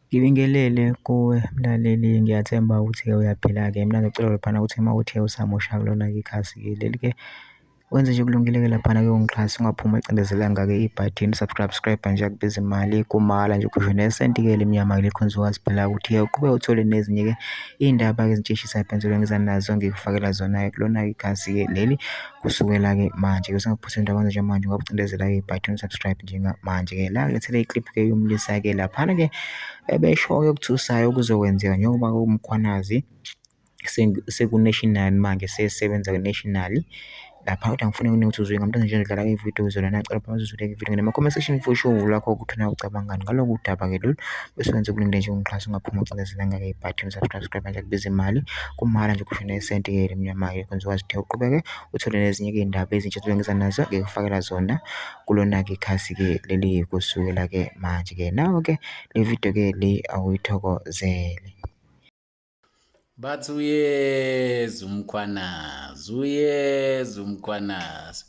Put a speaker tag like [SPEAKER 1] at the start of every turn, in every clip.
[SPEAKER 1] Ngibingelele kuwe mlaleli, ngiyathemba ukuthi-ke uyaphila-ke. Mina ngicela laphana ukuthi uma uthe usamosha kulona-ke ikhasi-ke leli-ke, wenze nje okulungile-ke laphana-ke ungixhase, ungaphumi ucindezelanga-ke ibhathini subscribe nje akubizi mali, kumahhala nje ukhishwe nesenti-ke elimnyama kuleli khonzi wazi phela ukuthi-ke uqhubeke uthole nezinye-ke iy'ndaba-ke ezitshishisa phela engizanazo ngikufakela zona-ke kulona-ke ikhasi-ke leli. Kusukela-ke manje ke usengaphosela into yakwenza njengamanje ngoba ucindezela-ke ibhathi unsubscribe njengamanje-ke la ngilethele i-clip-ke yomlisa-ke laphana-ke ebeshoyo okuthusayo okuzokwenzeka njengoba umkhwanazi seku-national manje sesebenza ku-national lapha kodwa ngifuna kuningi ukuthi uzwe ngamntwana nje ngidlala ividiyo kuzona nacela phakathi uzuleke ividiyo ngena comment section for sure lakho ukuthi una ucabangani ngaloku daba-ke lolu bese wenza okulungile nje ungixhasa ungaphuma ucindezelanga-ke ibhathi unsubscribe manje akubiza imali Kumahhala nje ukhishwa nesenti ke elimnyama ke kwenza ukwazi ukuthi uqhubeke uthole nezinye ke iy'ndaba ezintsha ozobe ngiza nazo ngikufakela zona kulona-ke ikhasi ke leli kusukela ke manje ke nawe ke le video ke le awuyithokozele
[SPEAKER 2] bathi uyeza umkhwanazi uyeza umkhwanazi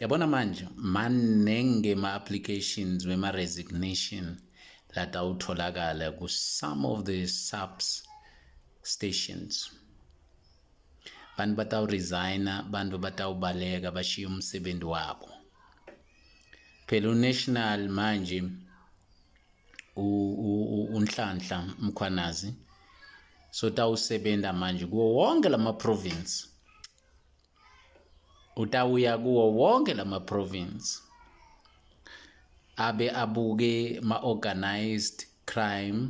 [SPEAKER 2] yabona manje manenge ma-applications wema-resignation latawutholakala ku-some of the subs stations bantu batawuresigna bantu batawubaleka bashiye umsebenzi wabo phela unational manje unhlanhla mkhwanazi so tawusebenza manje kuwo wonke lama province utawuya kuwo wonke lama province abe abuke ma organized crime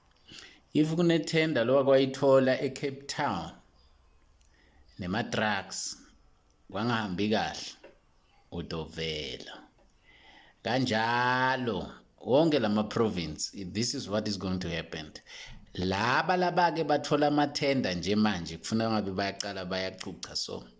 [SPEAKER 2] if kunethenda lo wakwayithola ecape town nema-drugs kwangahambi kahle udovela kanjalo wonke la ma-province this is what is going to happen laba laba-ke bathola amathenda nje manje kufuna ngabe bayaqala bayacucha so